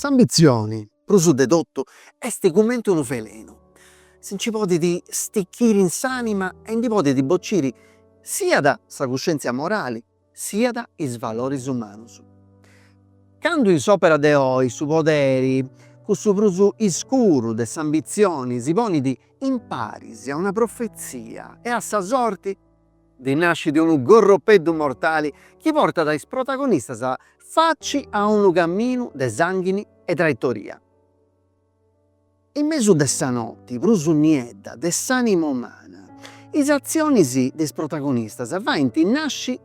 S'ambitzioni, prus de totu, est cumenti unu velenu, si nci podit stichiri in s'ànima e ndi podit bociri siat sa cuscièntzia morali, siat is valoris umanus. Candu in s'òpera de oi su poderi, cussu prus iscuru de s'ambitzioni, si ponit imparis a una profetzia e a sa sorti, ndi nascit unu gorropeddu mortali chi portat is protagonistas faci a unu caminu de sanghini e traitoria. In mesu de sa noti prus niedda de s'ànima umana, is atzionis de is protagonistas faint nasci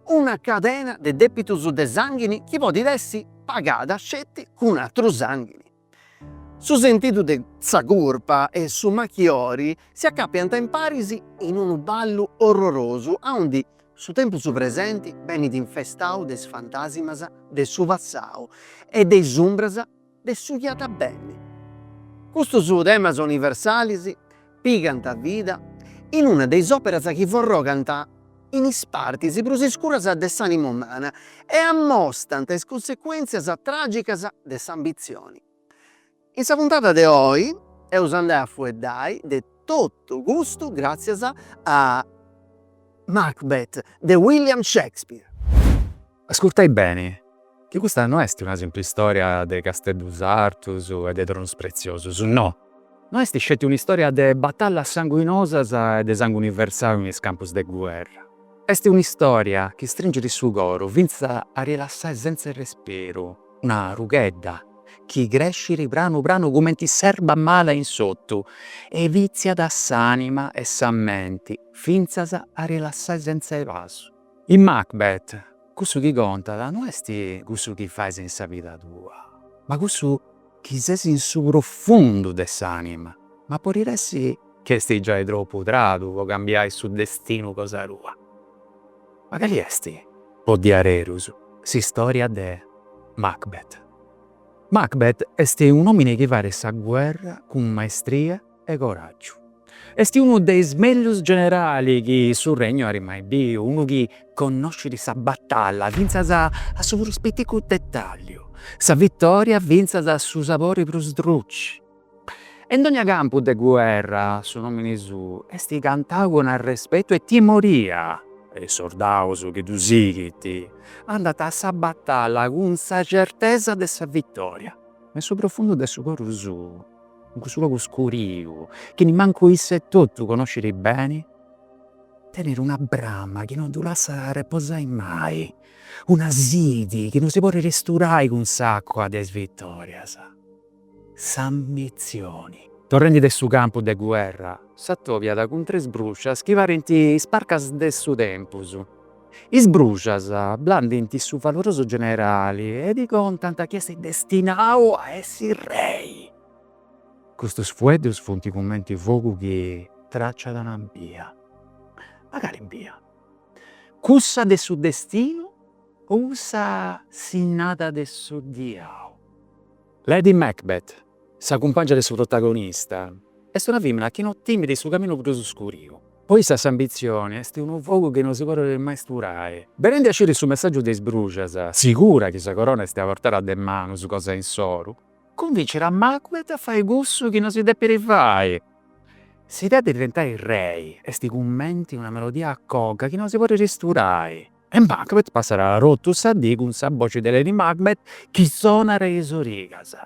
una cadena de dèpitus de sànghini chi podit essi pagada sceti cun atru sànghini. Su sentidu de sa curpa e su machiori si acàpiant imparis in unu ballu orrorosu aundi su tempus presenti benit infestau de is fantàsimas de su passau e de is umbras de su chi at a benni. Custus temas universalis pigant vida in una de is operas chi forrogant in is partis prus iscuras de s'anima umana e ammostant is consecuentzias tragicas de s'ambitzioni. In sa puntada de oi eus a andai a fueddai de totu custu gràtzias a Macbeth de William Shakespeare. Ascurtai beni, chi custa no esti una simpli storia de casteddus artus e de tronus pretziosus, no! No esti sceti un'istoria de batallas sanguinosas e de sanguni versau in is campus de guerra. Esti un'istoria chi stringit su coru fintzas a ddu lassai sentza 'e respiru una rughedda chi crescit pranu pranu cumenti s'erba mala in s'ortu e vitziat s'anima e sa menti fintzas a ddu lassai sentza 'e pasu. In Macbeth cussu chi contat no est cussu chi fais in sa vida tua, ma cussu chi ses in su profundu de s'anima, ma podit essi chi est giai tropu tradu po cambiai su destinu cosa tua. Ma cali est po diaderus s'istoria de Macbeth? Macbeth est un'omini chi fait sa guerra cun maestria e coràgiu. Est unu de is mellus generali chi su Regnu at mai biu, unu chi connoscit sa batalla fintzas a su prus piticu detàlliu, sa vitòria fintzas a su sabori prus druci. E in dogna campu de guerra su nòmini suu est cantau cun arrespetu e timoria e is sordaus chi ddu sighint andant a sa batalla cun sa certesa de sa vitòria. Ma in su profundu de su coru suu. in cussu logu scuriu, chi nimmancu isse e totu conoscit beni, tenit una brama chi non ddu lassat arreposai mai, una sidi chi non si podit isturai cun s'acua de is vitòrias, s'ambitzioni. Torrendi de su campu de guerra, s'atobiat cun tres bruscias chi parint is parcas de su tempus. Is bruxas blandint su valorosu generali e ddi contant chi est destinau a essi rei. Custus fueddus funt cumenti fogu chi traciat una bia. Ma cali bia? Cussa de su destinu o cussa sinnada de su diau? Lady Macbeth, sa cumpàngia de su protagonista, est una fìmina chi no timit su caminu prus scuriu. Po issa s'ambitzioni est unu fogu chi no si podet mai isturai. Benendi a sciri su messàgiu de is bruxas, sigura chi sa corona est a portada de manus cosa insoru, cunvincit a Macbeth a fai cussu chi no si depit fai. S'idea de diventai rei est cumenti una melodia a coga chi no si podit sturai. E Macbeth passat totu sa dì cun sa boci de Lady Macbeth chi sonat a is origas.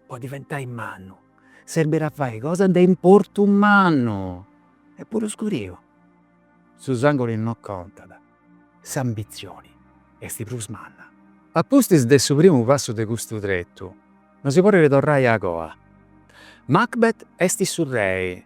Po diventai mannu serbit a fai cosa de importu mannu e puru scuriu. Su sànguni no contat, s'ambitzioni est prus manna. A pustis de su primu passu de custu tretu, no si podit torrai a coa. Macbeth est su rei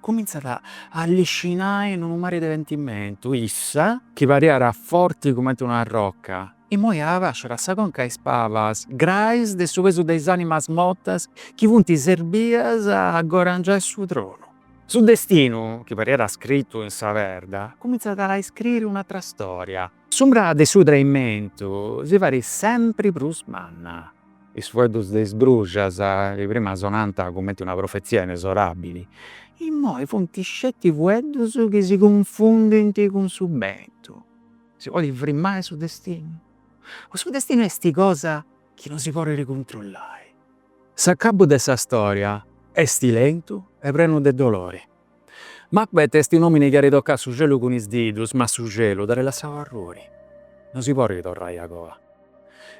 Cumintzat a alliscinai in unu mari de pentimentu, issa, chi pariat forti cumenti una arroca, immoi abàsciat sa conca, is pabas, grais de su pesu de is animas mortas chi funt serbias a godangiai su tronu. Su destinu, chi pariat scritu in sa perda, cumintzat a iscriri un'atra storia. S'umbra de su traimentu si fait sempri prus manna, is fueddus de is bruxas chi prima sonànt cumenti una profetzia inesorabili, immoi funt sceti fueddus chi si cunfundint cun su bentu. Si podit frimai su destinu? O su destinu esti cosa chi no si podit cuntrollai? S'acabu de sa storia esti lentu e prenu de dolori. Macbeth est un'omini chi at tocau su celu cun is didus, ma su celu dd'at lassau arruiri. No si podit torrai a coa.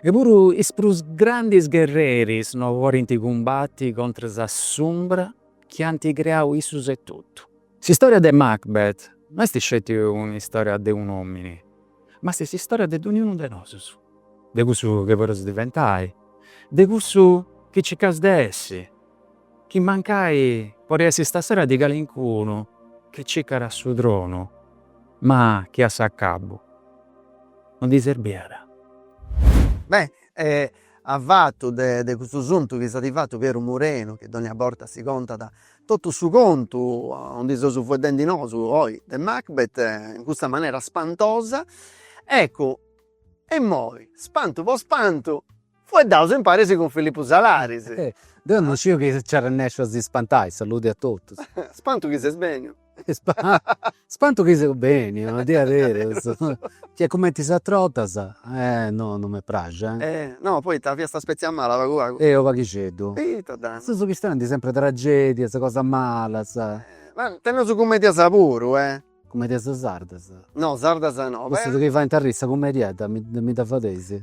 E puru is prus grandis gherreris no podint cumbati contras a s'umbra chi ant creau issus etotu. S'istòria de Macbeth no est sceti un'istòria de un'omini, ma est s'istòria de dogniunu de nosus, de cussu chi podeus diventai, de cussu chi circaus de essi. Chi mancai podit essi stasera de calincunu chi cicat su tronu ma chi a s'acabu no ddi serbiat. Beh e a fatu de de custu suntu chi s'at fatu Pieru Murenu chi dogna borta si contat totu su contu non ndi seus fueddendi nosu oi de Macbeth in custa manera spantosa eccu e immoi spantu po spantu Fueddaus imparis cun Filippu Salaris. Deu non sciu chi nci arrennesciu a si spantai, saludi a totus. Spantu chi ses beniu. Spantu chi seu beniu, a diaderus, chi est cumenti is atras 'otas, no no m'est praxia. No, poita fiat sa spetzia mala pagu pagu. E u' paghixeddu. Ita dda. Seus chistionendi sempri tragedias, cosas malas. Ma teneus cumedias puru, eh. Cumedias sardas. No, sardas no. Cussus chi faint arriri sa cumediedda mi dda fadeis.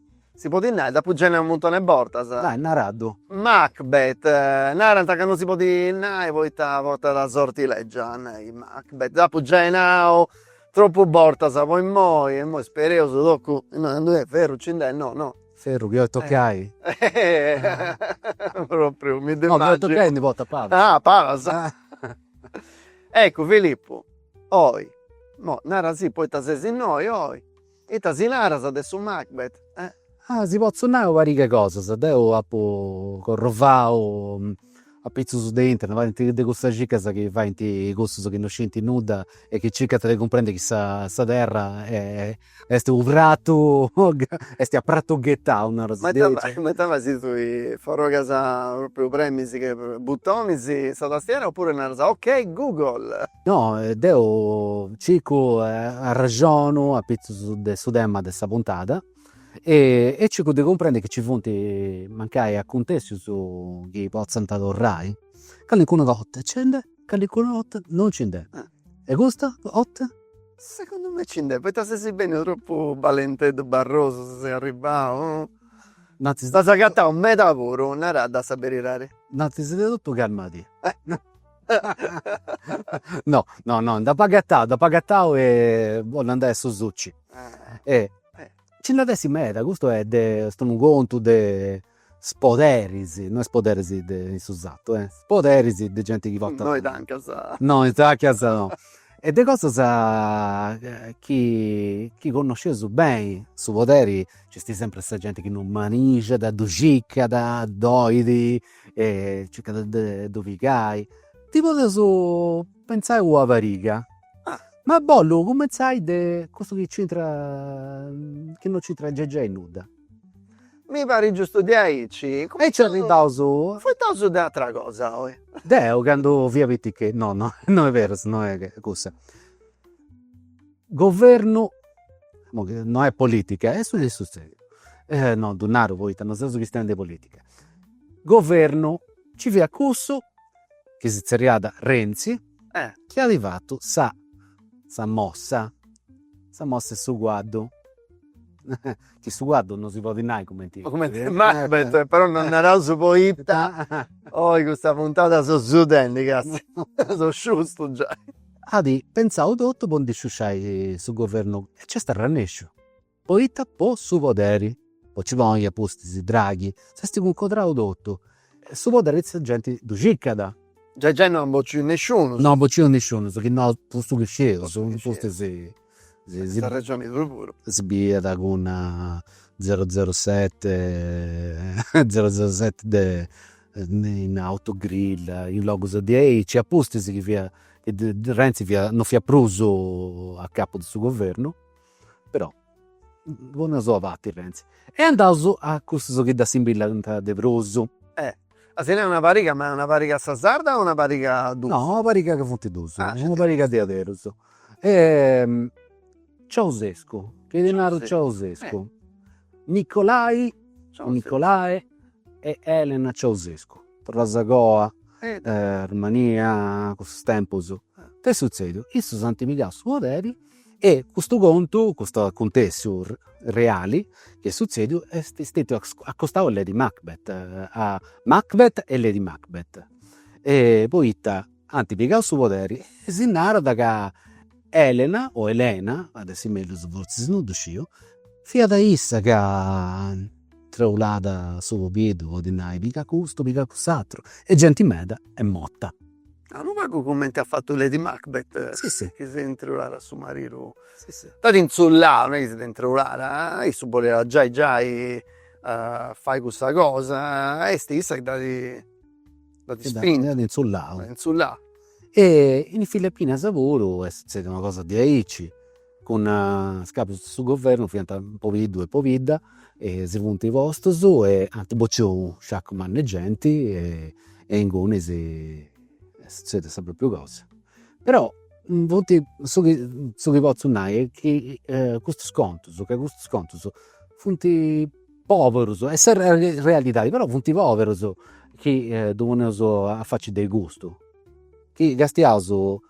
Si podit nai, dd'apu giai nau u' muntoni 'e bortas. Dai, naraddu. Macbeth, narant ca non si podit nai poita portat sorti lègia, nai Macbeth. Dd'apu giai nau tropu bortas po immoi, e immoi spereus tocu, innoi candu est ferru nci nd'est, no no. Ferru chi 'olit toccai. Propriu mi ddu immaginu. No, chi 'olit toccai e ndi portat palas. Ah, palas. Eccu Filippu, oi, mo, narasì poita ses innoi oi Ita si naras de su Macbeth? Ah, si potzu nai u' pariga 'e cosas, deu apu corrovau apitzus de internet, parint de custas cicas chi faint cussus chi no sciint nudda e chi circant de cumprendi chi sa terra est u' pratu est a pratu ghetau, naras diaici. Ma ita fais tui, forrogas propriu, premis is butonis sa tastiera oppuru naras, ok Google. No deu circu e arrexonu apitzus de su tema de sa puntada e circu de cumprendi chi ci funt mancai acuntessius chi potzant torrai, calincuna 'otta nci nd'est, calincuna 'otta non nci nd'est. E custa 'otta? Segundu mei nci nd'est poita sesi benniu tropu balenteddu barrosu si ses arribau, t'as agatau meda puru, naradda sa beridadi. Innantis de totu calmadì No no no nd'apo agatau nd'apo agatau e po no andai a su suci e nci nd'at essi meda, custu est est unu contu de is poderis, no is poderis de in su sartu, is poderis de genti chi portat. No is ancas. No is ancas no. E de cosas chi chi connosceus beni, su poderi nc'est sempri sa genti chi non manixat, ddu circat, dd'olit e circat de ddu pigai, ndi podeus pentzai una pariga, ma bollu cumenzai de cussu chi nc'intrat, chi non nc'intrat gei nudda. Mi parit giustu diaici. Aici arribaus. Fueddaus de ateras cosas oi. Deu candu fia piticheddu, no no no est berus, no est cussa Governu, no est politica, est su chi est sutzediu, no ddu naru poita no seus chistionendi de politica, governu, nci fiat cussu chi si tzerriat Renzi chi at fatu sa sa mossa, sa mossa 'e su cuaddu, chi su cuaddu no si podit nai cumenti est, però non ddu naraus poita oi custa puntada so sudendi, catzu, so sciustu giai At pentzau totu po ndi sciusciai su governu e nc'est arrannesciu. Poita po su poderi, po nci ponni a pustis Draghi, s'est cuncodrau totu e su poderi sa genti ddu circat. Giai gei no at bociu nesciunus. No at bociu nesciunus, chi no po su chi scieus in pustis. si bidiat cun zero zero sette zero zero sette de in autogrill in logus diaici e a pustis chi fiat chi Renzi non fiat prus a capu de su governu però bona si dda fatzat Renzi e andaus a cussus chi dd'assimbillant de prus e Ma si nai una pariga, ma una pariga a sa sarda o una pariga a duus? No, una pariga ca funt duus, una pariga diaderus. Ciausescu, chi ti naru Ceaușescu, Nicolai o Nicolae e Elena Ceaușescu, torras a goa, Romania, cussus tempus, ita est sutzediu, issus ant pigau su poderi E custu contu, custu acuntessiu reali chi est sutzediu est stetiu acostau a Lady Macbeth, a Macbeth e Lady Macbeth, poita ant pigau su poderi e si narat ca Elena o Elena, at essi mellus fortzis non ddu sciu, fiat issa ca treulat su pobiddu po ddi nai piga custu, piga cuss'ateru e genti meda est morta A unu pagu cumenti at fatu lady macbeth chi si intzulat a su maridu, dd'at intzullau, no est chi si dd'est intzullada, issu boliat giai giai fai cussa cosa e est issa chi dd'at dd'at ispintu, dd'at intzullau, dd'at intzullau. E in Filipinas puru est suzzediu una cosa diaici cun is capus de su governu fiant pobiddu e pobidda e si funt postus e ant bocciu sciacu mannu 'e genti e inguni est sutzediu sa propriu cosa. Però funt, su chi su chi potzu nai est chi custus contus, ca custus contus funt poberus, est sa realidadi, però funt poberus chi ddu poneus a faci de custu, chi castiaus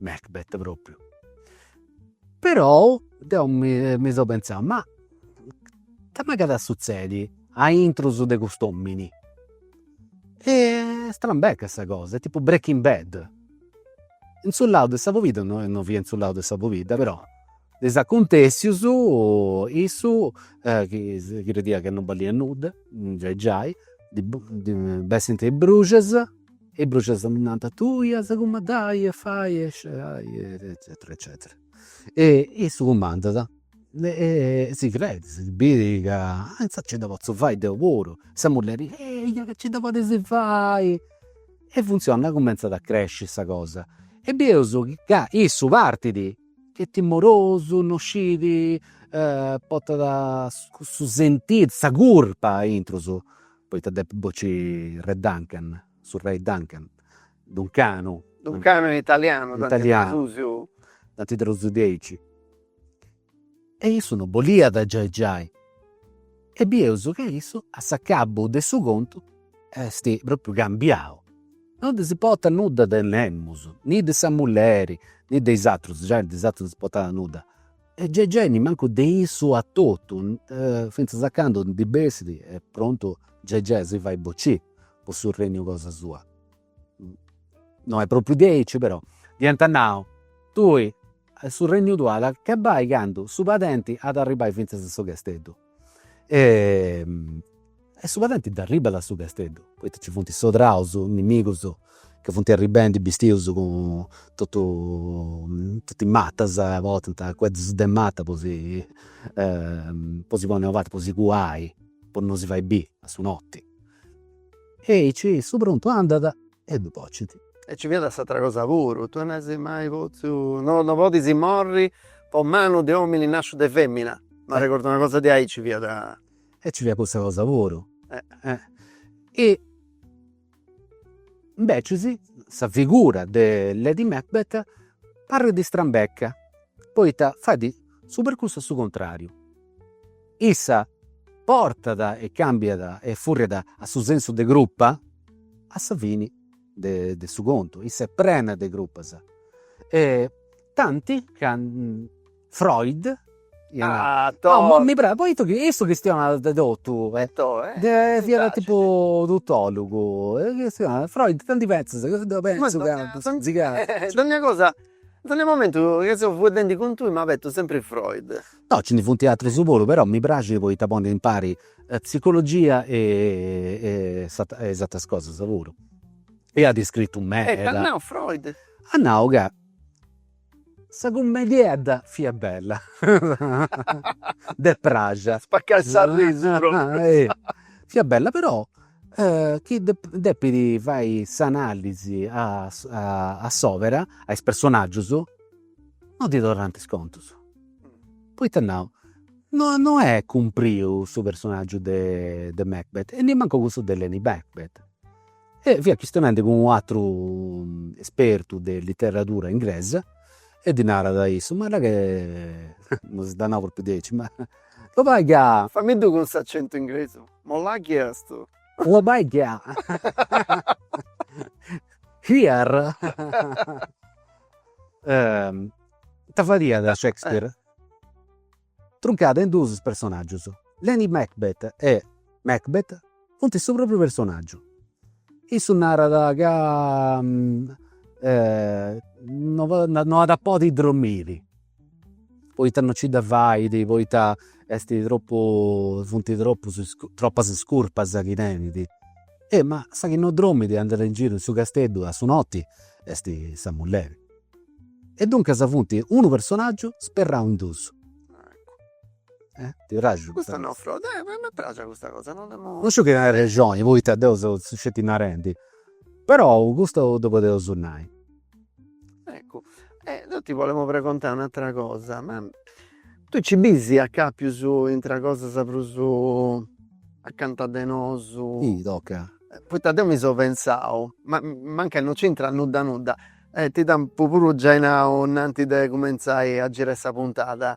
Macbeth propriu. Però deu mi seu pentzau, ma ita agatat a sutzedi aintrus de cust'omini. Est strambecca sa cosa, est tipu breaking bad. In su lau de sa pobidda, no no fiat in su lau de sa pobidda però, is acuntessius issu chi si crediat ca non balliat nudda, giai giai, ddi bessint is bruxas Is bruxas ddi nant, tui as a cumandai e fai eccetera eccetera eccetera. E issu cumandat e si credit, si bit ca inzaras nci dda potzu fai deu puru, sa mulleri, eia ca nci dda podis fai. E funtzionat, cumenzat a cresci sa cosa. E bieus ca issu partit ca est timorosu, non scit, portat cussu sentidu, sa curpa a intrus Poita depit bocci Re Duncan, su Rei Duncan, Duncanu. Duncanu in italianu, tanti tradusiu. Tanti tradusiu diaici. E issu no boliat giai giai. E bieus ca issu a s'acabu de su contu est propriu cambiau. No ndi dd'importat nudda de nemus, ni de sa mulleri, ni de is atrus, giai de is atrus ndi dd'importat nudda E giai giai ni mancu de issu etotu, fintzas a candu ndi bessit est prontu giai giai a si fai bocì po su renniu cosa sua. No est propriu diaici però dd'iant nau, tui su renniu tuu at a acabai candu su padenti at a arribbai fintzas a su casteddu. e su padenti dd'arribbat a su casteddu, poita nci funt sordaus nimigus chi funt arribendi bistius cun totu totu is matas, portant arrogus de mata po si po si ponni ananti, po si cuai, po non si fai biri a su notti E aici su prontu andat e ddu pocit. E nci fiat s'atra cosa puru, tui no as mai potziu, no no podis morri po manu de òmini nasciu de femina, m'arregordu una cosa de aici fiat. E nci fiat cussa cosa puru. E invecis sa figura de lady Macbeth parrit strambecca, poita fait su percursu a su contrariu Issa portat e cambiat e furriat a su sensu de curpa a sa fini de su contu, issa est prena de curpas e tanti ca Freud iat nau, mi praxit, poita ca issu chistionat de totu, fiat tipu tutologu, chistionat, Freud candu pentzas, deu pentzu ca si ca, dogna cosa, dogna momentu chi seu fueddendi cun tui m'apu a arremonai sempri Freud No, nci ndi funt atrus puru, però mi praxit poita ponit impari psicologia e is ateras cosas puru. E iat scritu meda. E it'at nau Freud? At nau ca sa cummediedda fiat bella, ddi praxiat. Spaccai de s'arrisu propriu. Fiat bella però chi depis fai s'analisi a s'òbera, a is personaggius No ddi torrant is contus. Poita nau, no no est cumpriu su personagiu de de Macbeth e nemmancu cussu de Lady Macbeth. E fiat chistionendi cun u' ateru espertu de literadura inglesa e ddi narat a issu, ma là che, non si dd'at nau propriu diaici, ma lo bai chi a. Fammi ddu cun s'acentu inglesu, ma là chi est? Lo bai chi a. Here Ita fadiat Shakespeare? Truncàt in duus is personaggius. Lady Macbeth e Macbeth funt su propriu personaggiu. Issu narat ca no at podi dromiri Poita no ci dda fait, poita est tropu, funt tropu tropas is curpas chi tenit. E ma sa chi no dromit e andat in giru in su casteddu a su noti est sa mulleri. E duncas funt unu personaggiu sperrau in dus. Ti praxit custa cosa? M'est praxia custa cosa, no nd'apu. Non sciu chi narai, poita deu seu sceti narendi, però custu ddu podeus nai Eccu e deu ti bolemu pregontai un'atera cosa, ma tui ci bis acapius intra cosas prus acanta de nosu. Sì, toca. Poita deu mi seu pentzau, ma mancai no c'intrat nudda nudda, e ti dd'apu puru giai nau innantis de cumentzai a girai sa puntada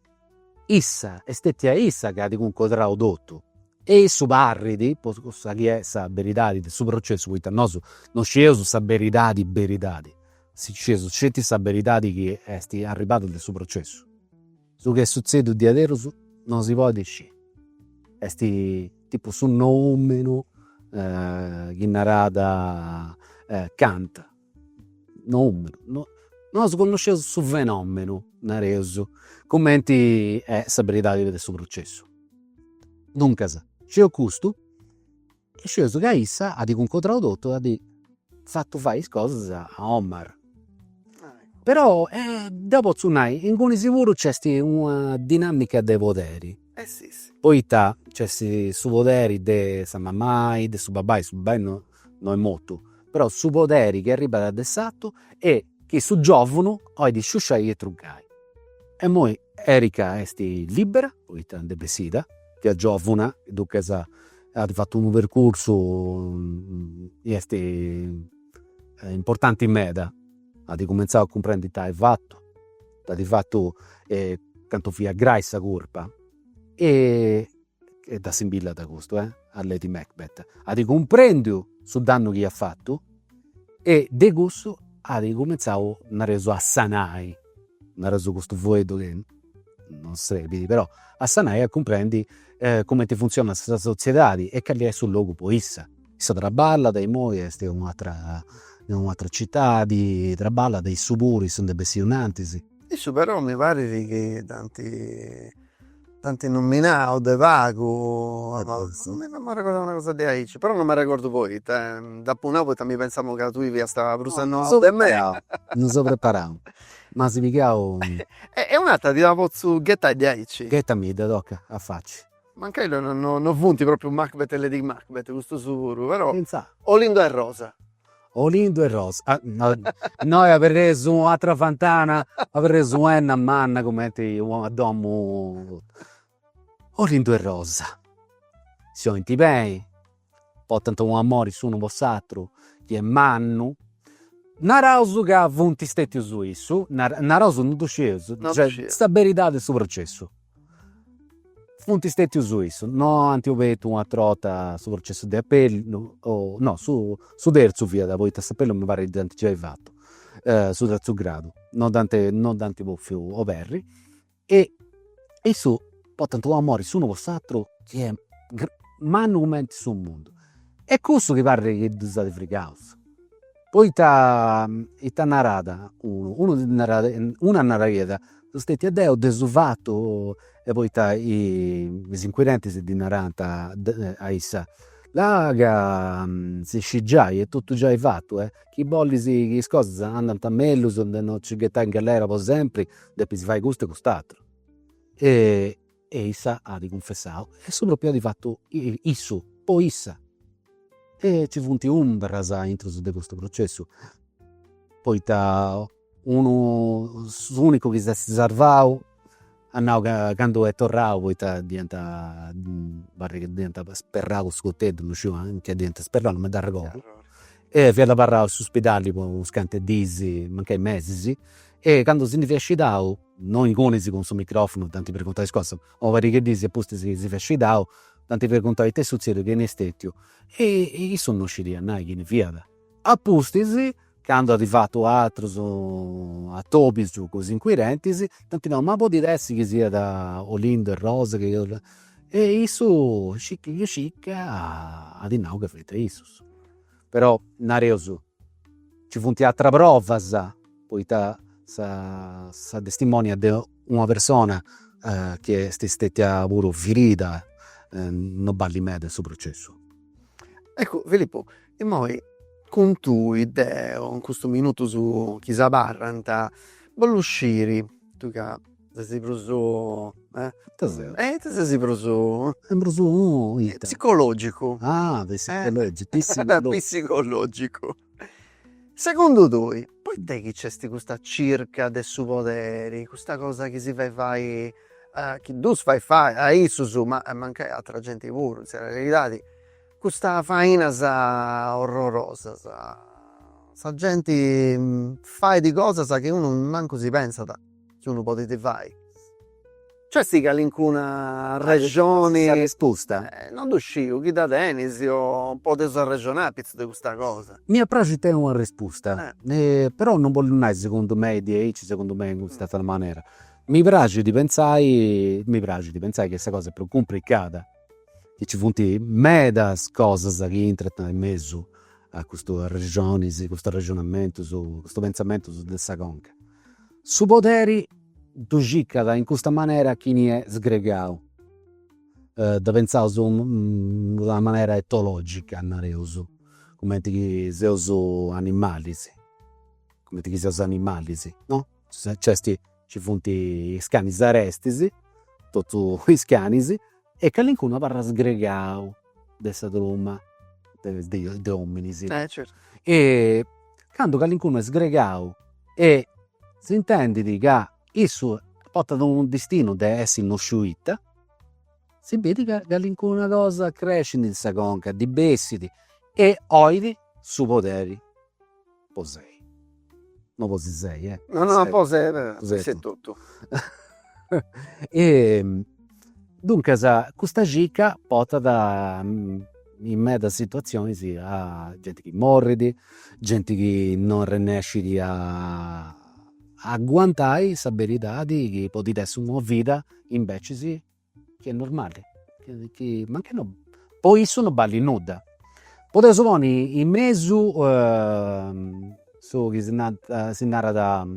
Issa, est stetia issa chi at cuncodrau totu e issu parrit, po cussa chi est sa beridadi de su processu, poita nosu non scieus sa beridadi beridadi, scieus sceti sa beridadi chi est arribada de su processu. Su chi est sutzediu diaderus non si podit scì, est tipu su noùmenu chi narat Kant Noùmenu, nosu connosceus su fenòmenu, nareus, cumenti est sa beridadi de su processu. Duncas, sciu custu e sciu ca issa at cuncodrau totu e at fatu fai is cosas a Omar. Però deu potzu nai, inguni siguru nc'est una dinàmica de poderi, poita nc'est su poderi de sa mamai, de su babbai, su babbai no no est mortu, però su poderi chi arribat de s'artu e chi su giòvunu 'olit sciusciai e truncai. E imoi Erika est lìbbera, poita nd'est bessida, chi est giòvuna, duncas at fatu unu percursu chi est importanti meda, at cumentzau a cumprendi ita at fatu, ita at fatu e cantu fiat grai sa curpa e e dda simbillat custu, eh, a Lady Macbeth, at cumprendiu su dannu chi at fatu e de cussu at incumentzau, nareus, a sanai, nareus custu fueddu chi non serbit, però, a sanai e a cumprendi cumenti funtzionat sa sotziedadi e cali est su logu po issa. Issa traballat, imoi est in un'atera, in un'atera citadi, traballat, issu puru, issu nd'est bessiu innantis, Issu però mi parit chi dd'anti dd'anti nominau de pagu imoi no m'arregordu una cosa de aici però no m'arregordu poita eh dd'apu nau poita mi pensamu ca tui fiast prus annosu de mei. Non seu preparau m'as pigau. E un'atera ti dda potzu ghetai de aici. Ghetamidda toca a faci. Mancai no no no funt propriu Macbeth e Lady Macbeth custus puru però. Finzas. Olindo e Rosa Olindu e Rosa innoi aberreus u'atera fantana, aberreus u'enna manna cumenti una domu. Olindu e Rosa si 'olint beni, portant un'amori s'unu po s'ateru chi est mannu, naraus ca funt stetius issus, naraus, non ddu scieus, cioè sa beridadi 'e su processu Funt stètius issus, no ant obertu un'atra 'orta su processu de apellu, no su su terzu fiat poita s'apellu mi parit dd'ant giai fatu, su terzu gradu, no dd'ant no dd'ant bòfiu oberri e issus portant u' amori s'unu po s'aturu chi est mannu cumenti su mundu e cussu chi parit chi ddus at frigaus Poita ita narat unu, unu narat, una naraiat, seu stetiu deu, deu dd'apu fatu, e poita is inquirentes ddi narant a issa, là ca si scit giai, est totu giai fatu, chi bollis chi is cosas andant mellus de non nci ghetai in gallera po sempri, depis fai custu e cust'ateru E issa at cunfessau, e su propriu at fatu issu, poi issa. E nci funt umbras intrus de custu processu, poita unu, s'unicu chi s'est sarvau, at nau ca candu est torrau, poita dd'iant, parit, dd'iant sperrau cun su coteddu, non sciu anchi dd'iant sperrau, non mi dd'arregordu e fiat abarrau in su spidalli po unas cantu dis, mancai mesis, e candu si ndi fiat scidau, no ingunis cun su microfonu dd'ant preguntau is cosas, po una pariga 'e dis e apustis si fiat scidau, dd'ant preguntau ita est sutzediu, chini est stetiu, e issu no scidiat nai chini fiat. Apustis, candu at fatu atrus atobis cun is inquirentis, dd'ant nau, ma podit essi chi siat Olindo e Rosa, e issu scicca scicca at nau ca fiant issus però nareus nci funt ateras provas, poita sa sa testimònia de una persona chi est stètia puru firida non ballit meda in su processu. Eccu Filippu, imoi cun tui deu in custus minutus chi si abarrant bollu sciri, tui ca Sesi prus, e ita ses? Sesi prus prus Psicològicu. Ah pisicològicu. Segundu tui poita est chi nc'est custa circa de su poderi, custa cosa chi si fait fai chi ddus fait fai a issus ma mancai a atrua genti puru in sa realidadi, custa fainas orrorosas, sa genti fait cosas chi unu mancu si pensat ca ddu podit fai. Ci at a essi calincuna arrexoni. Una rispusta. Non ddu sciu, chi dda tenis o podeus arrexonai apitzus de custa cosa. M'iat a praxi tenni una rispusta, però non bollu nai segundu mei diaici, segundu mei in custa atra manera. Mi praxit pentzai, mi praxit pentzai chi sa cosa est prus cumplicada, chi ci funt medas cosas chi intrant in mesu a custu arrexonis, custu arrexonamentus, custu pentzamentus de sa conca Su poderi ddu circat in custa manera chini est sgregau, dda pentzaus in una manera etològica, nareus, cumenti chi seus animalis, cumenti chi seus animalis, no, nc'est, nci funt is canis arestis, totus is canis e calincunu abarrat sgregau de sa truma de ominis e candu calincunu est sgregau e s'intendit ca issu portat unu distinu de essi no sciu ita, si bit ca calincuna cosa crescit in sa conca ddi bessit e oit su poderi po sei no po si sei eh no no po sei e totu e duncas custa cicca portat in medas situatzionis a genti chi morrit, genti chi non arrennescit a aguantai sa beridadi chi podit essi una vida invecias Chi est normali, chi ma nche no, po issu no ballit nudda, podeus ponni in mesu su chi si nant, si narat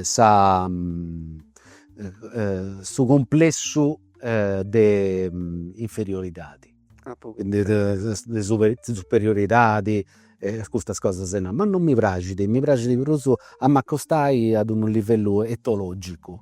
sa su cumplessu de inferioridadi de superioridadi e custas cosas e no, ma non mi praxit, mi praxit prus a m'acostai ad unu livellu etologicu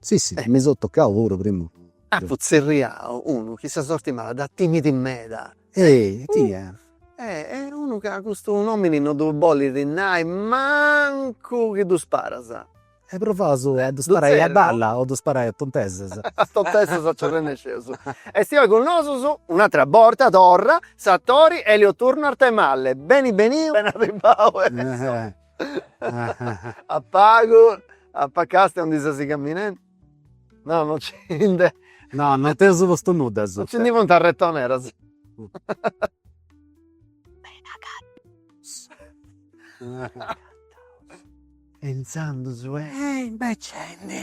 Si si mi so tocau puru primu. Apu tzerriau unu chi sa sorti mala dda timit meda. Ehi tia. Est unu ca custu nomini no ddu bolit nai mancu chi ddu sparas. E provaus a ddu sparai a balla o ddu sparai a tontesas. A tontesas nci arrennesceus. Esti oi cun nosus un'atra borta torra s'atori Elio Turno Arthemalle. Beni beniu, beni arribau. a pagu a pa' càstia aundi ses camminendi no non ci nde no non t'eus postu nudda asuta non ci ndi funt arretoneras beni agataus beni agataus e intzandus e imbeccende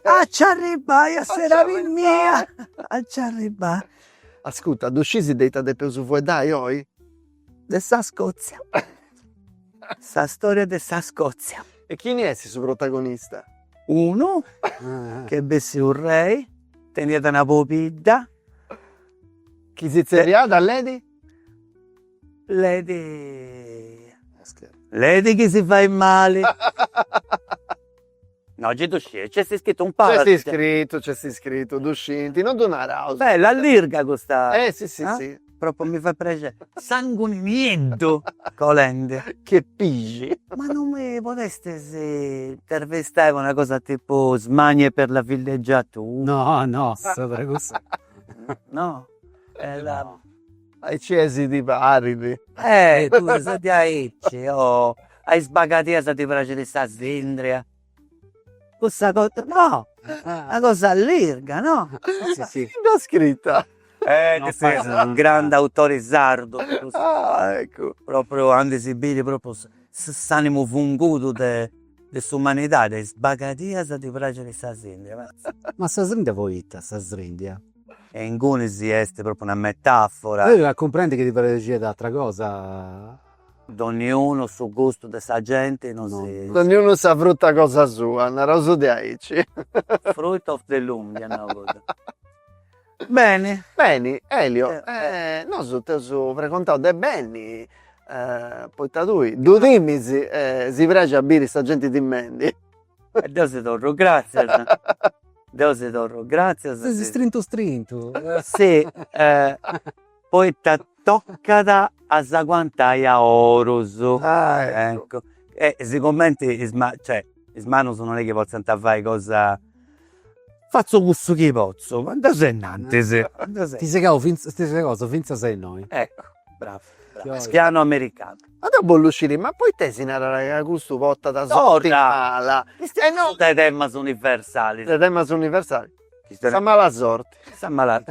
a ci arribbai a s'edadi mia a ci arribbai ascurta ddu scisis de ita depeus fueddai oi de sa Scozia. Sa storia de sa Scozia. E chini est su protagonista? Unu chi est bessiu rei, teniat una pobidda. Chi si tzerriat Lady? Lady. Lady chi si fait mali. No gei ddu scit, nc'est iscritu in parra. Nc'est iscritu, nc'est iscritu, ddu scinti, no ddu naraus. Bella, allirga custa. Eh si si si. Propriu mi fait prexeri. Sanguni nieddu colendi. Che pixi. Ma non mi podestis intervistai po una cosa tipu smanie per la villeggiatura. No no, sa de cussa. No. Aici est ti parit. Eh tui ses diaici oh. A is bagadias ti praxit sa sindria. Cussa cosa no, una cosa lirga no. Si si. Chini dd'at scrita? Eh non fait unu grandu autori sardu. Ah eccu. Propriu anca si biri propriu s'animu fungudu de de s'umanidadi, a is bagadias ti praxit sa sindria. Ma sa sindria poita sa sindria? E inguni si est propriu una metafora. Po cumprendi chi ti praxiat atra cosa. Donniunu su gustu de sa genti non si. Donniunu sa fruta cosa sua, naraus de aici. Fruit of the loom dia nau godu. Beni. Beni, Elio, nosu t'eus pregontau de beni, poita tui ddu timis e si praxit a biri sa genti timendi. E deu si torru gratzias. Deu si torru gratzias. Ses istrintu istrintu. Si, poita tocat a s'aguantai a is orus. Ah eccu. E sigumenti is cioè is manus non est chi potziant fai cosa. Fatzu cussu chi potzu, ma deu seu innantis. Ses segau fintzas, ses segau fintzas a innoi. Eccu, brava. Su pianu americanu. Ma deu bollu sciri, ma poita si narat ca custu portat sorti mala? E no, de temas universalis. De temas universalis. Sa mala sorti. Sa mala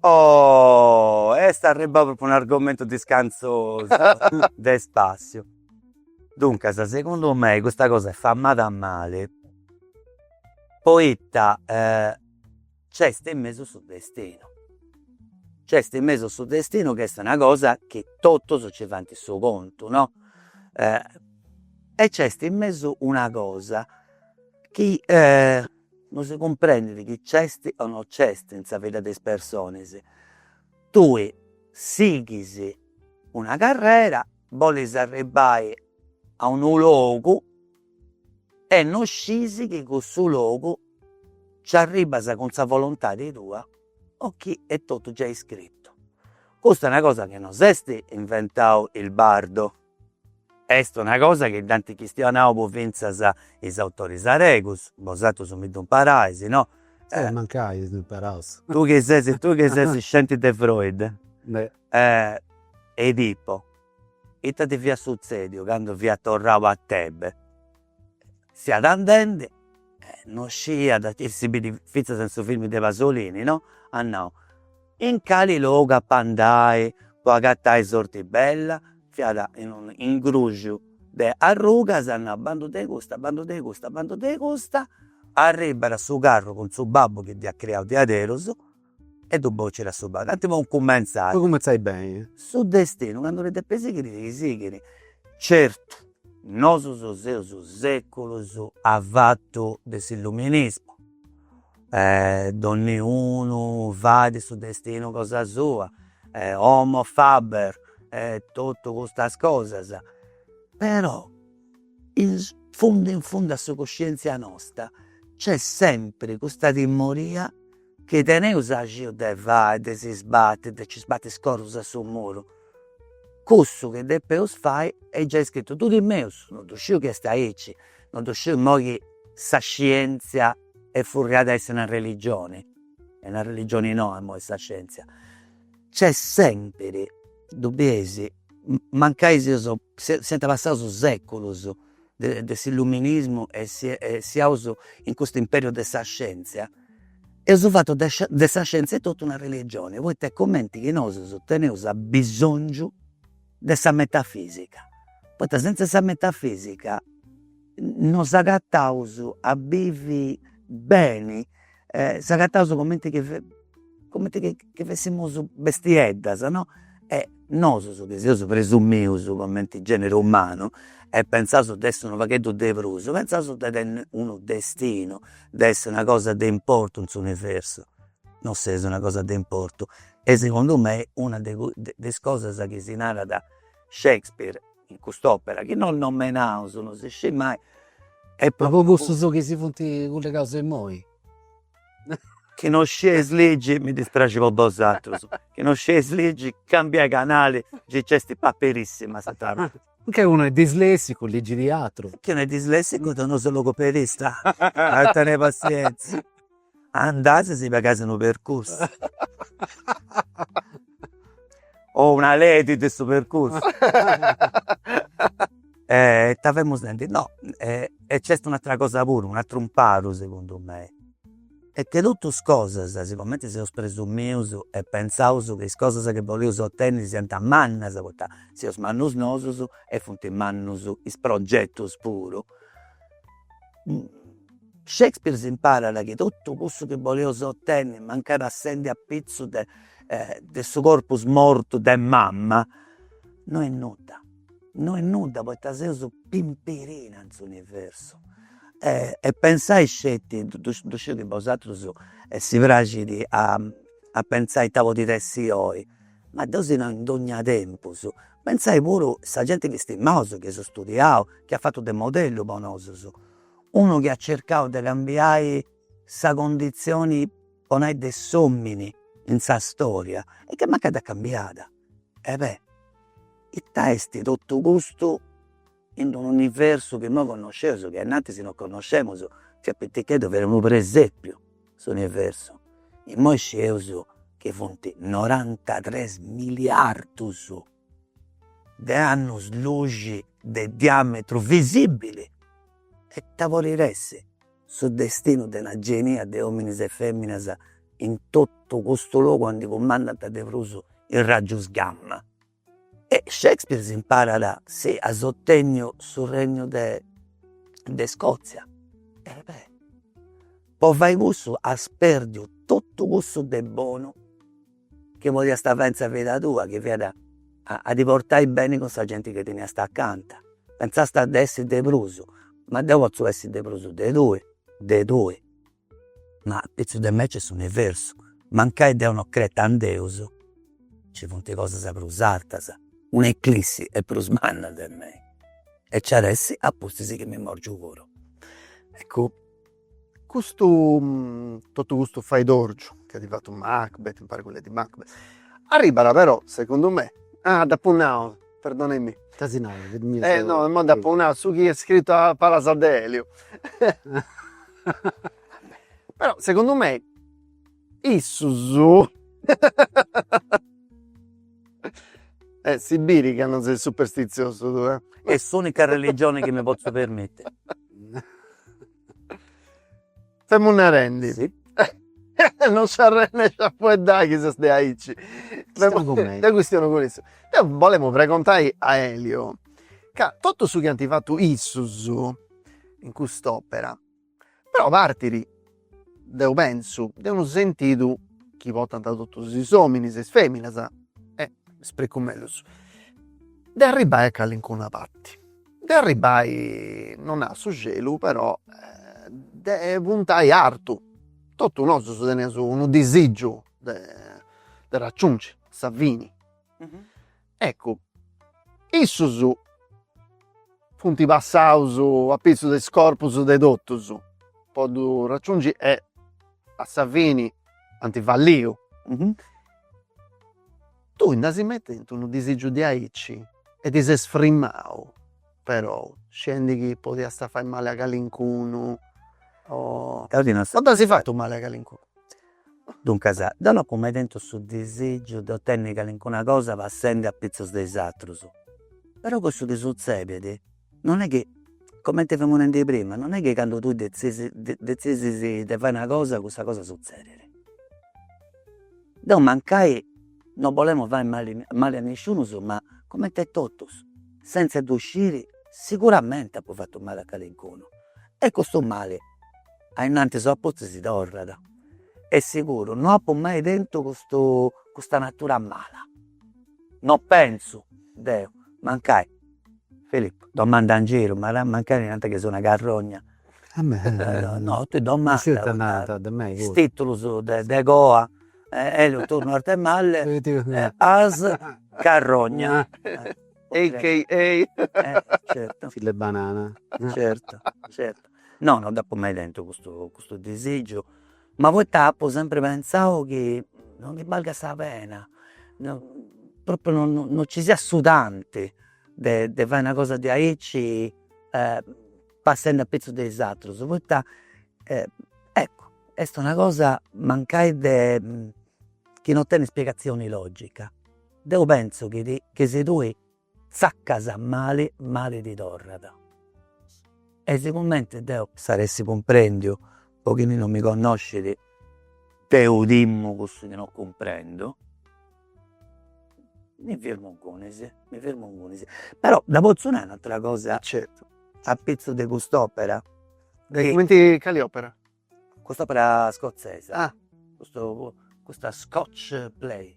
Oh est arribbau propriu un'argomentu discantzosu de spassiu. Duncas, segundu mei, custa cosa est famada mali poita Nc'est in mesu su destinu, nc'est in mesu su destinu chi est una cosa chi totus nci fant su contu no, e nc'est in mesu una cosa chi non si cumprendit chi nc'est o non nc'est in sa vida de is personis, tui sighis una carrera, bolis arribbai a unu logu e no scisi chi cussu logu nci arribas cun sa volontadi tua o chi est totu giai scritu. Custa est una cosa chi no s'est inventau is sardus, est una cosa chi dd'ant chistionau po fintzas is autoris aregus, bosatrus mi ddu imparais, no? E mancai si ddu imparaus. Tui chi ses tui chi ses scenti de Freud, Edipo Ita ddi fiat sutzèdiu candu fiat torrau a Tebe? Fiat andendi e non sciiat, chi si bidit fintzas in su film de Pasolini, no, at nau, in cali logu apu a andai po agatai sorti bella, fiat in unu ingruxiu de arrugas, at nau, bandu de custa, bandu de custa, bandu de custa, arribbat su carru cun su babbu chi dd'iat criau diaderus E ddu bocit a su babu. Cantu podit cumentzai? Podit cumentzai beni. Su destinu candu ti depit sighiri ti sighit. Certu, nosus seus seculus avatu de s'illuminismu, donniunu fait su destinu cosa sua, homo faber e totu custas cosas, però in fundu in fundu a sa coscientzia nosta nc'est sempri custa timoria Chi teneus axiu de fai, de si sbatti, de ci sbatti is corrus a su muru, cussu chi depeus fai est giai scritu, ddu timeus, non ddu sciu chi est aici, non ddu sciu immoi chi sa scientzia est furriada a essi una religioni, est una religioni noa immoi sa scientzia, nc'est sempri, ddu bieis, mancai seus, siant passaus seculus, de s'illuminismu e siaus in custu imperiu de sa scientzia, eus fatu de sa scientzia etotu una religioni, poita est comenti chi nosus teneus abisongiu de sa metafisica, poita sentza 'e sa metafisica no s'agataus a bivi beni e s'agattaus comenti chi comenti chi chi fessimus bestieddas no, e nosus chi seus presumius comenti generu umanu e pensaus de essi unu pagheddu de prus, pensaus de tenni unu destinu, de essi una cosa de importu in s'universu, non seus una cosa de importu e segundu mei una de is cosas chi si narat Shakespeare in cust'opera chi non nomenaus non si scit mai e po puru cussus chi si funt cullegaus immoi chi non scieis ligi mi dispraxit po bosatrus chi non scieis ligi cambiai canali gei c'esti Paperissima sa trabada che unu est dislessicu ligit atru chi unu est dislessicu deu no seu logopedista tenei passienzia Andais a si pagai unu percursu o una lei de su percursu e ita femus nendi, no e c'est un'atera cosa puru, un'ateru imparu segundu mei est chi totus cosas sicomenti seus presumius e pensaus chi is cosas chi boleus otenniri siant mannas poita seus mannus nosus e funt mannus is progetus puru Shakespeare s'imparat chi totu cussu chi boleus otenni mancai passendi apitzus de de su corpus mortu de mama no est nudda, no est nudda poita seus pimpirina in s'universu e pentzai sceti, ddu sciu chi a bosatrus si praxit a pentzai ita podit essi oi, ma deu si nau in dogna tempus Pentzai puru sa genti chi stimaus, chi aus studiau, chi at fatu de modellu po nosus, unu chi at circau de cambiai sa conditzioni, po nai, de s'omini in sa storia e chi mancai dd'at cambiada. E beh, ita est totu custu in unu universu chi imoi connosceus, chi innantis non connoscemus, fiat piticheddu fiat unu presepiu s'universu, imoi scieus chi funt norantatres miliardus de annus luxi de diametru visibili e ita podit essi su destinu de una genia de ominis e feminas in totu custu logu aundi cumandant de prus is raggius gamma. E Shakespeare si imparat si as ottenniu su regnu de de Scozia, e beh po fai cussu as perdiu totu cussu de bonu chi podiast fai in sa vida tua chi fiat a ti portai beni cun sa genti chi teniast acanta, pentzàst de essi de prus, ma deu potzu essi de prus de tui de tui Ma apitzus de mei nc'est s'universu. Mancai deu no creta in Deus, nci funt cosas prus artas. Una eclissi est prus manna de mei e nci at a essi a pustis chi mi morgiu puru. Eccu, custu, totu custu faedorgiu chi at fatu Macbeth, impari cun Lady Macbeth, arribat però, segundu mei, dd'apu nau Perdonemi. Ita si narat, fit mia sa. Eh no, imoi dd'apu nau, su chi est scritu a palas de Elio. Però segundu mei issus e si bit ca non ses superstiziosu tue. Est s'unica religione chi mi potzu permittiri. Femu narendi. Si. non s'arrendit a fueddai chi si setzit de aici. Chistionu cum'est. Deu chistionu cun issu. Deu bolemu pregontai a Elio, ca totu su chi ant fatu issus in cust'opera, però partit, deu pensu, de unu sentidu chi portant totus is ominis e is feminas, e m'ispricu mellus, de arribbai a calincuna parti de arribbai non a su celu però de puntai artu, totu nosu teneus unu disigiu de de raggiungi a sa fini, eccu issus funt passaus apitzus de is corpus de totus po ddu raggiungi e a sa fini ant falliu Tui nd'as mai tentu unu disìgiu de aici e ti ses frimau, perou, scendi chi podiasta fai mali a calincunu. Deu ti no. O dd'asi fatu mali a calincunu. Duncas, deu no apu mai tentu su disìgiu de otenni calincuna cosa passendi apitzus de is atrus, perou cussu ti sutzedit. non est chi, comente femu nendi prima, non est chi candu tui detzidis detzidis de fai una cosa cussa cosa suzzedit, deo mancai non bolemu fai mali mali a nisciunus ma comente a totus senza ddu sciri siguramente apo fattu mali a calincunu e custu mali ainnantis o a pustis mi torrat e siguru no apo mai tentu custu custa natura mala, non pentzu deo mancai Filippo, domanda in giru, mancai nant chi seu una carrogna. No, tui domanda, is titulus de coa, Elio Turno Arthemalle, a.k.a. carrogna. Certo. Fille banana. Certo, certo. No, no dd'apu mai tentu custu custu disigiu Ma poita apu sempri pentzau chi non ndi balgat sa pena, propriu non non non ci siat su tanti de de fai una cosa de aici passendi apitzus de is atrus, poita eccu est una cosa mancai de chi non tenit spiegazioni logica. Deu pentzu chi ti chi si tui Tzaccas mali mali ti torrat. E sigumenti deu, s'at a essi cumprendiu po chini non mi connoscit, deu timu cussu chi non cumprendu, mi firmu ingunis, mi firmu ingunis. Però dda potzu nai un'atera cosa, a pitzus de cust'opera, chi. Cumenti, cali opera? Cust'opera scozzesa. Ah. Custa custa scotch play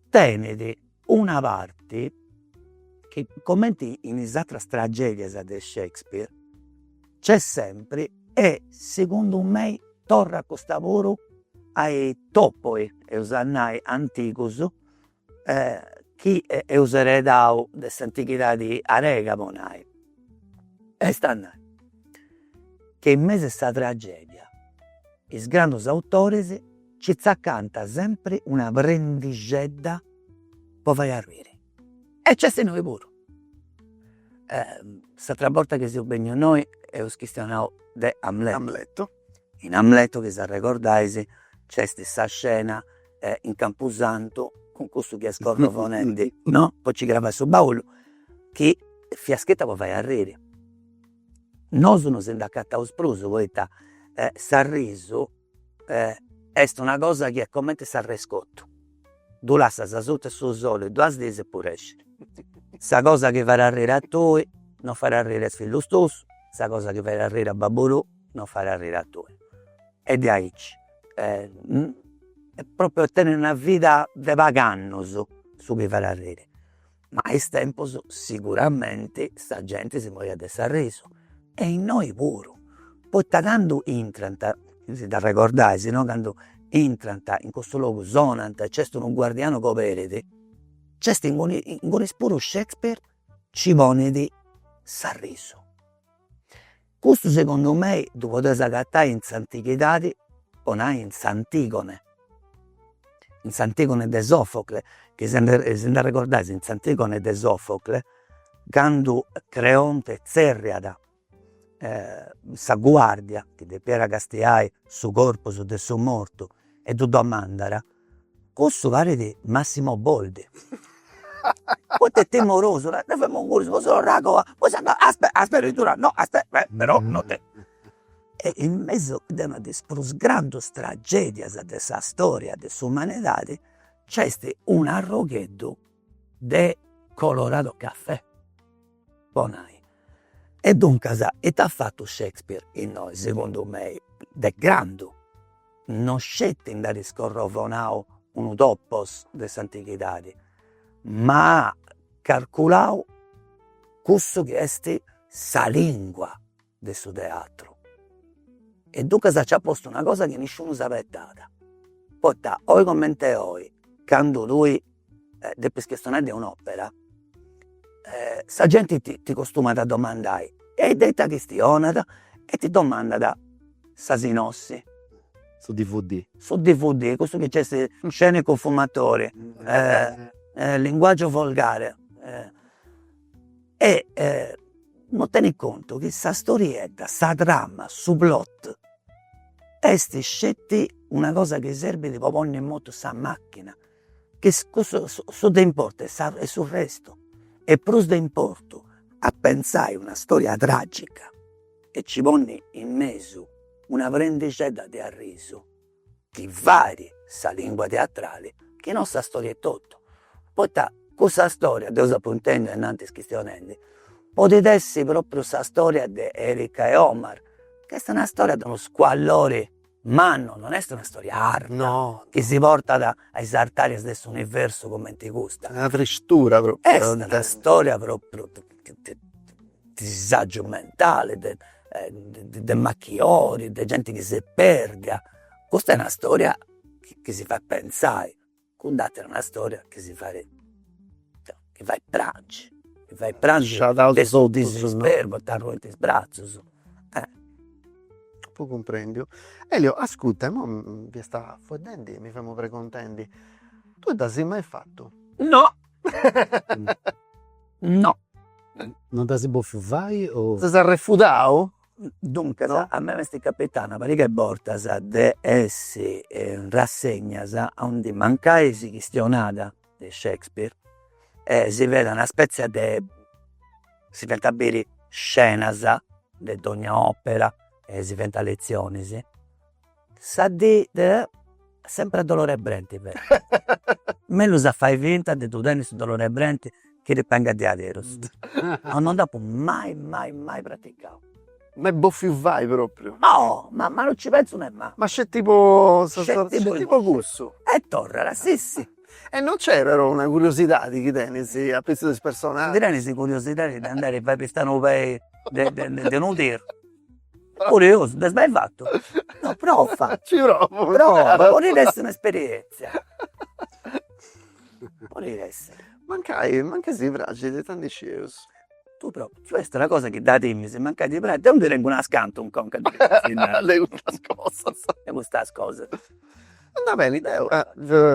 tenit una parti chi cumenti in is ateras tragedias de Shakespeare nc'est sempri e segundu mei torrat custa puru a is topoi eus a nai antigus chi eus eredau de s'antichidadi arega po nai, est a nai che in mesu 'e sa tragedia is grandus autoris nci tzacant sempri una prendixedda po fai arriri e nc'est innoi puru. S'atera borta chi seus bennius innoi eus chistionau de Amleto, in Amleto chi s'arregordais nc'est sa scena e in campusantu cun custu chi est scorrovonendi no, po nci cravai su baulu, chi fiat scrita po fai arriri, nosu non si nd'acataus prus poita s'arrisu est una cosa chi est cumenti s'arrescotu, ddu lassas asuta 'e su soli duas diis e pudescit, sa cosa chi fait arriri a tui non fait arriri a is fillus tuus, sa cosa chi fait arriri a babbu tuu non fait arriri a tui e diaici e propriu tenit una vida de pagh'annos su chi fait arriri, ma a is tempus sicuramente sa genti si moriat de s'arrisu e innoi puru, poita candu intrant, chi si nd'arregordais, no, candu intrant in cussu logu sonant e nc'est unu guardianu chi oberit, nc'est inguni inguni puru Shakespeare nci ponit s'arrisu Custu segundu mei ddu podes agatai in s'antighidadi po nai in s'Antigone, in s'Antigone de Sofocle, chi si nd'arregordais in s'Antigone de Sofocle candu Creonte tzerriat sa guardia chi depiat castiai su corpus de su mortu e ddu domandat Cussu parit Massimo Boldi poita est timorosu, nai, deu femu ingunis po s'orragoa, poi s'andat, aspetta, aspetta chi ddu nau, no aspetta, però non ti. E in mesu de una de is prus grandus tragedias de sa storia de s'umanidadi nc'est un'arrogheddu de Colorado Cafè, po nai, E duncas ita at fatu Shakespeare innoi segundu mei, de grandu, non sceti nd'at scorrovonau unu topos de s'antighidadi, ma at carculau cussu chi est sa lìngua de su teatru. E duncas nci at postu una cosa chi nisciunu s'abetat, poita oi comente oi candu tui depis chistionai de un'opera sa genti ti costumat a domandai, e de ita chistionat? E ti domandat sa sinossi. Su dvd. Su dvd, cussu chi nc'est. Scene con fumatori, linguaggio volgare e non tenit contu chi sa storiedda, sa trama, su plot est sceti una cosa chi serbit po ponni in motu sa machina Chi cussu su de importu est sa su restu, est prus de importu a pentzai una storia tragica e ci ponni in mesu una prendixedda de arrisu chi fait sa lingua teatrali chi non sa storia etotu, poita cussa storia, deu s'apu intendiu ainnantis chistionendi, podit essi propriu sa storia de Erika e Omar, chi est una storia de unu scuallori mannu, non est una storia arta. No. Chi si portat a is artàrias de s'universu cumenti custa. Una tristura propriu. Est una storia propriu de de disàgiu mentali, de de machiori, de genti chi s'est pèrdia. Custa est una storia chi si fait pentzai Cudd'atera una storia chi si fait, chi fait prangi, chi fait prangi de su disisperu poita arruint is bratzus. Apu cumprendiu. Elio ascurta imoi fiast fueddendi e mi femu preguntendi, tui dd'asi mai fatu? No no. Non dd'asi bofiu fai o. Ses arrefudau? Duncas a mei m'est capitau una pariga 'e bortas de essi in rassegnas aundi mancai si chistionada de Shakespeare e si fiat una spetzia de, si fiant biri scenas de dogna opera e si fiant lezionis Sa dì de sempre a dolore 'e brenti fait. Mellus a fai finta de ddu tenni su dolore 'e brenti chi ti bengat deaderus. No no dd'apu mai mai mai praticau. Mai boffiu fai propriu? No, ma ma no ci penzu nemmancu. Ma sceti po sa sa. Sceti po cussu. E torrara, si si. E non c'è però una curiosidadi chi tenis apitzus de is personaggius. Ndi tenis curiosidadi de andai a fai pista nou pei de de de unu teru Curiosu, nd'as mai fatu, no prova, ci provo, prova, podit essi un'esperienzia, podit essi. Mancai, mancai si praxit e non ddu scieus. Ddu provu, cioè est una cosa chi dda timis, mancai ti praxit, deu ndi tengu unas cantu in conca de custas cosas, de custas cosas. Andat beni, deu.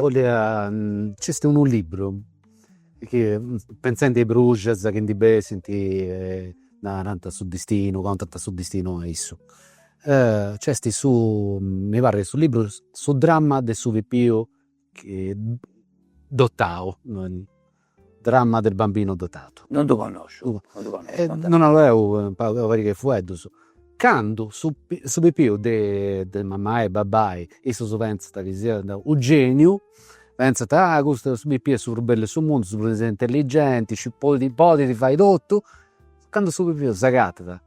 Bolia, nc'est unu libru Chi pentzendi a is bruxas chi ndi bessint narant su distinu, contant su distinu a issu. Nc'est su, mi parrit su libru, su dramma de su pipiu dotau, dramma del bambino dotato. Non ddu connosciu, non ddu connosciu. Non ddu leu in pagu, una pariga 'e fueddus. Candu su pipiu de mamai e babbai, issus pentzant chi siat u' geniu Pentzat, ah custu su pipiu est su prus bellu 'e su mundu, su prus intelligenti, issu podit podit fai totu, candu su pipiu s'agatat,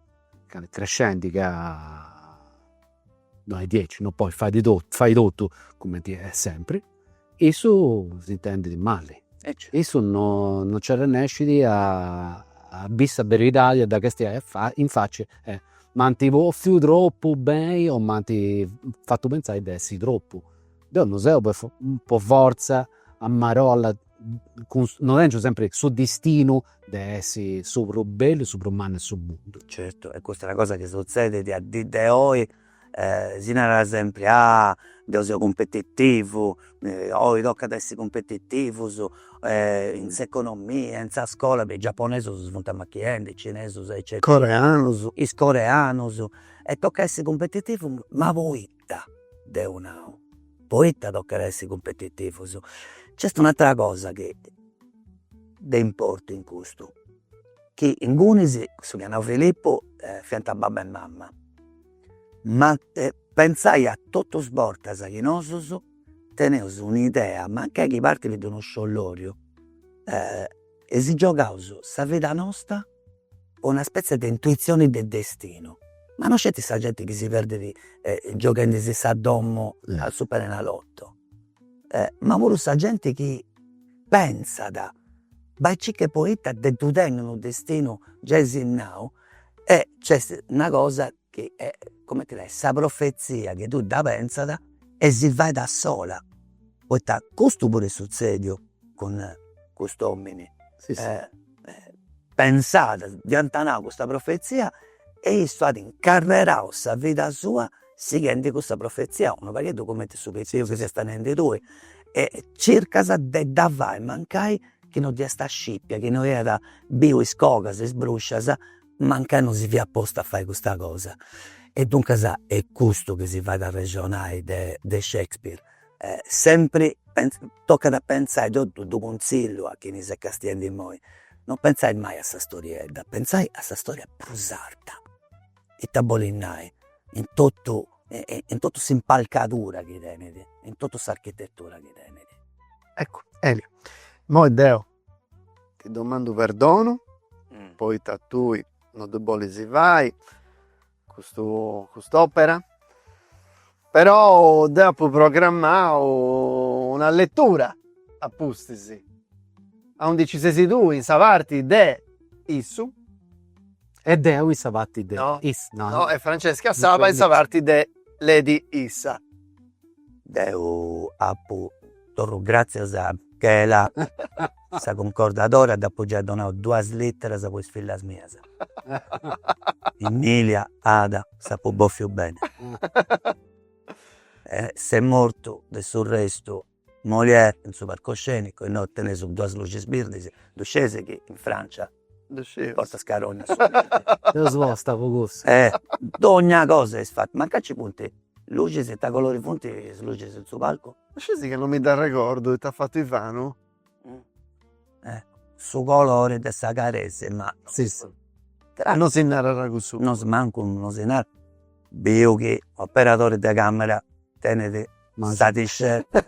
candu est crescendi ca no est diaici, no podit fai totu fai totu cumenti est sempri, issu s'intendit mali, issu no no nci arrennescit a a biri sa beridadi a dda castiai in faci e m'ant bòfiu tropu beni o m'ant fatu pentzai de essi tropu Deu no seu po po fortza a marolla ca no tengiu sempri su distinu de essi su prus bellu, su prus mannu 'e su mundu. Certu, e custa est una cosa chi sutzedit a dì de oi, si narat sempri, ah deu seu cumpetitivu, oi tocat a essi cumpetitivus, in s'economia, in sa scola, is giaponesus si funt amachiendi, is cinesus eccetera, is coreanus. Is coreanus, e tocat a essi cumpetitivus ma poi poita deu nau, poita tocat a essi cumpetitivus, nc'est un'atera cosa chi est de importu in custu, chi ingunis, cussu chi at nau Filippu, fiant babbu e mama, ma pentzai a totus is bortas chi nosus teneus un'idea, mancai chi partit de unu scioloriu E si giogaus sa vida nosta po una spetzia de intuitzioni de destinu. Ma no sceti sa genti chi si perdit gioghendisi sa domo a superenalotto, ma puru sa genti chi pentzat, bai e circa poita ddu tenit unu destinu giai sinnau e nc'est una cosa chi est comente nai sa profezia chi tui dda pentzat e si fait a sola, poita custu puru est sutzediu cun custu omini, pentzat, ddi ant nau custa profezia e issu at incarrerau sa vida sua sighendi custa profezia, unu pagheddu comente su pensieu chi ses tenendi tui e circas de dda fai mancai chi no si 'nd'est a scipiu, chi no iat biu is cogas, is bruscias mancai non si fiat postu a fai custa cosa. E duncas est custu chi si fait a arrexonai de Shakespeare, sempri tocat a pentzai, deu ddu cunzillu a chini s'est castiendi immoi, non pentzai mai a sa storiedda, pentzai a sa storia prus arta, ita bolit nai, in totu in totu s'impalcadura chi tenit, in totu s'architetura chi tenit. Eccu, Elio, immoi deu Ti domandu perdonu poita tui no ddu bolis fai custu cust'opera, però deu apu programmau una lettura a pustis, aundi ci sesi tui in sa parti de issu e deu in sa parti de issa, no no e Francesca Saba in sa parti de Lady issa Deu apu torru gratzias a Michela sa cuncordadora dd'apu giai donau duas literas po is fillas mias. Emilia, Ada, s'apu bòfiu beni. Est mortu, de su restu, Molière in su parcoscenicu, innoi teneus duas luxis birdis, ddu scesi chi in Francia Portat scarogna subito. Eus posta po cussu. Eh dogna cosa est fatta, ma mancai nci funt luxis, ita colori funt is luxis in su palcu? Sceti chi non mi dd'arregordu ita at fatu Ivanu. Su colori de sa caresima. Si si. Non si narat cussu. No mancu non si narat, biu chi operadori de camera tenit Ma sa tiscetta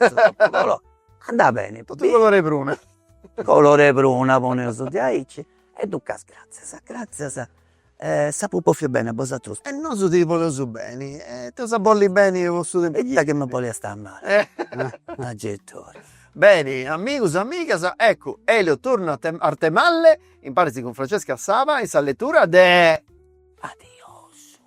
andat beni totu colore 'e pruna, colore 'e pruna poneus diaici e duncas gratzias gratzias e si apu bòffiu beni a bosatrus e nosu ti boleus beni e t'eus a bolli beni po su tempus chi e ita chi mi boliast a mali agettori. Beni amigus amigas eccu Elio torna a Artemalle imparis cun Francesca Saba in sa letura de. Adiosu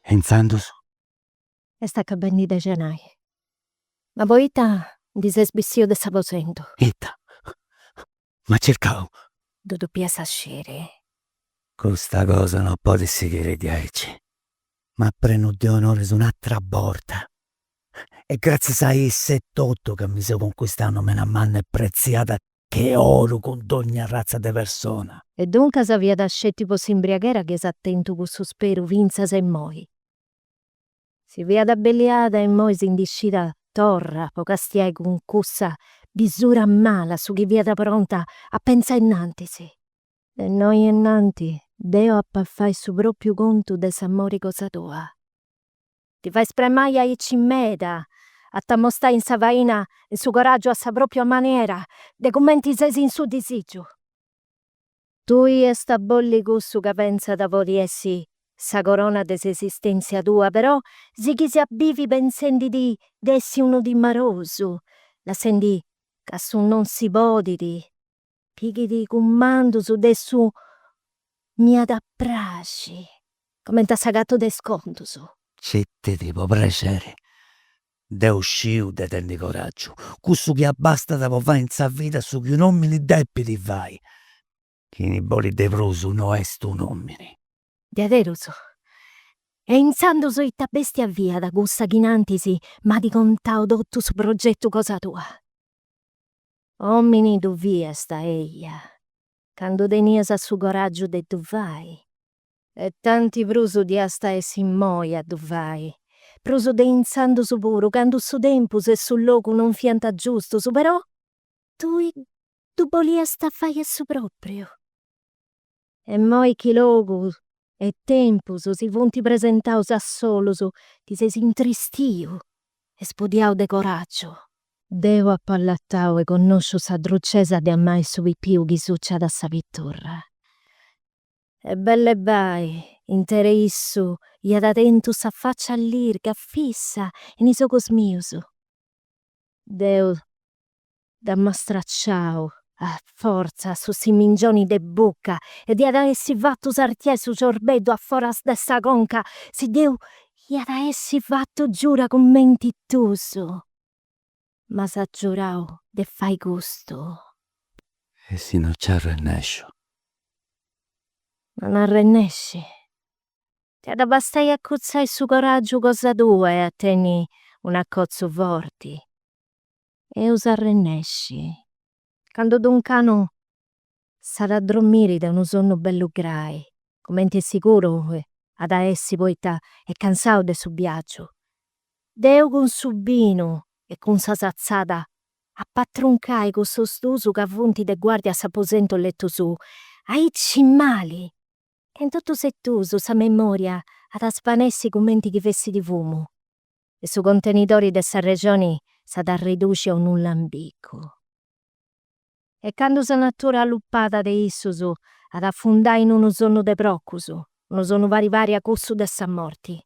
E intzandus? Est acabendi de xenai. Ma poita ndi ses bissiu de s'aposentu? Ita? M'at circau. Ddu depias a sciri. Custa cosa no podit sighiri diaici. M'at prenu de onoris un'atra borta. E gratzias a issa etotu ca mi seu conquistau nomena manna e pretziada che oru cun dogna arratza de persona. E duncas fiat sceti po s'imbriaghera chi as tentu cussu speru fintzas immoi. Si fiat abbelliada e immoi si ndi scida torra po castiai cun cussa bisura mala su chi fiat pronta a pentzai innantis. De innoi innantis deu ap'a fai su propriu contu de s'amori cosa tua. Ti fais spramai aici meda, a t'ammostai in sa faina in su coragiu a sa propria maniera de cumenti ses in su disigiu. Tui iast a bolli cussu ca pentzas podit essi sa corona de s'esistèntzia tua, però sighis a bivi pentzendi di essi unu timarosu, lassendi ca su non si podit pighit cumandus de su m'iat a praxi, coment'a sa gatu de is contus. Citi·ti po prexeri, Deu sciu de tenni coraggiu, cussu chi abbastat po fai in sa vida su chi un'omini depit fai, chini bolit de prus no est un'omini. Diaderus? E intzandus ita bestia fiat cussa chi innantis m'at contau totu su progetu cosa tua? Omini ddu fiasta, eia, candu tenias su coraggiu de ddu fai, E tanti prus diast a essi immoi a ddu fai, prus de intzandus puru, candu su tempus e su logu non fiant giustus, però tui ddu boliast fai a su pròpriu. E immoi chi logu e tempus si funt presentaus a solus, ti ses intristiu e sbudiau de coràgiu. Deu apu allatau e connosciu sa drucesa de amai su pipiu chi suciat a sa piturra. E belle bai, intere issu iada tentu sa faccia allirga fissa in is ogos mius. Deu dd'am'a stracciau a fortza su simingioni de bucca e d'iada essi fattu sartiai su ciorbeddu a foras de sa conca si deu iada essi fattu giura cumenti tusu. M'as giurau de fai custu. E si no nci arrennesciu. Non arrennesci. T'at a bastai a acutzai su coràgiu cosa tua e a tenni un'acotzu forti. Eus a arrennesci. Candu Duncanu s'at a drommiri de unu sonnu bellu grai, cumenti est siguru chi at a essi poita est cansau de su biagiu. Deu cun su binu e cun sa satzada apu a truncai cussus duus ca funt de guardia a s'aposentu letu suu, aici mali! E in totus e duus sa memoria at a svanessi cumenti chi fessit fumu, e su contenidori de s'arrexoni s'at a arreduci a unu lambicu. E candu sa natura allupada de issus at a afundai in unu sonnu de procus, unu sonnu pari pari a cussu de sa morti,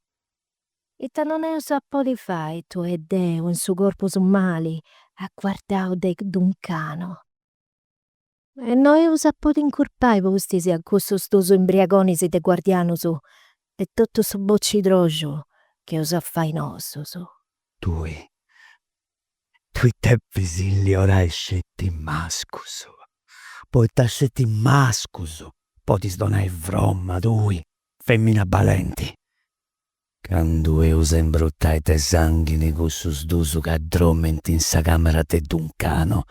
ita non eus a podi fai tui e deu in su corpus mali aguardau de Duncanu? E no eus a podi incurpai pustis a cussus dus imbriagonis de guardianus de totu su bocitroxu chi eus a fai nosus? Tui, tui depis illiorai sceti mascus, poita sceti mascus podis donai fromma tui, femina balenti. Candu eus a imbrutai de sanghini cussus dus ca dromint in sa camera de Duncanu,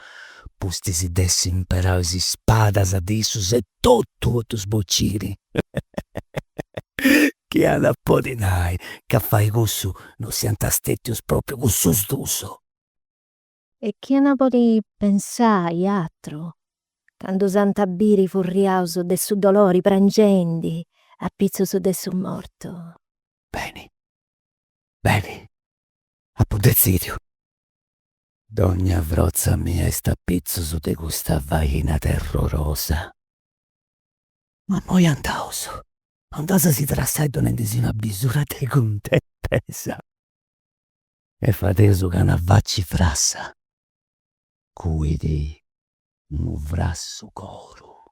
pustis de essi imperau is spadas de issus e totu po ddus bociri chi at a podi nai ca a fai cussu no siant stètius pròpriu cussus dus. E chini at a podi pensai atru candu s'ant a biri furriaus de su dolori prangendi apitzus de su mortu. Beni, beni, apu detzidiu. Dogna frotza mia est a pitzus de custa faina terrorosa. Ma immoi andaus, andaus a si trassai donendisi una bisura de cuntentesa e fadeus ca una faci frassa cuit unu frassu coru.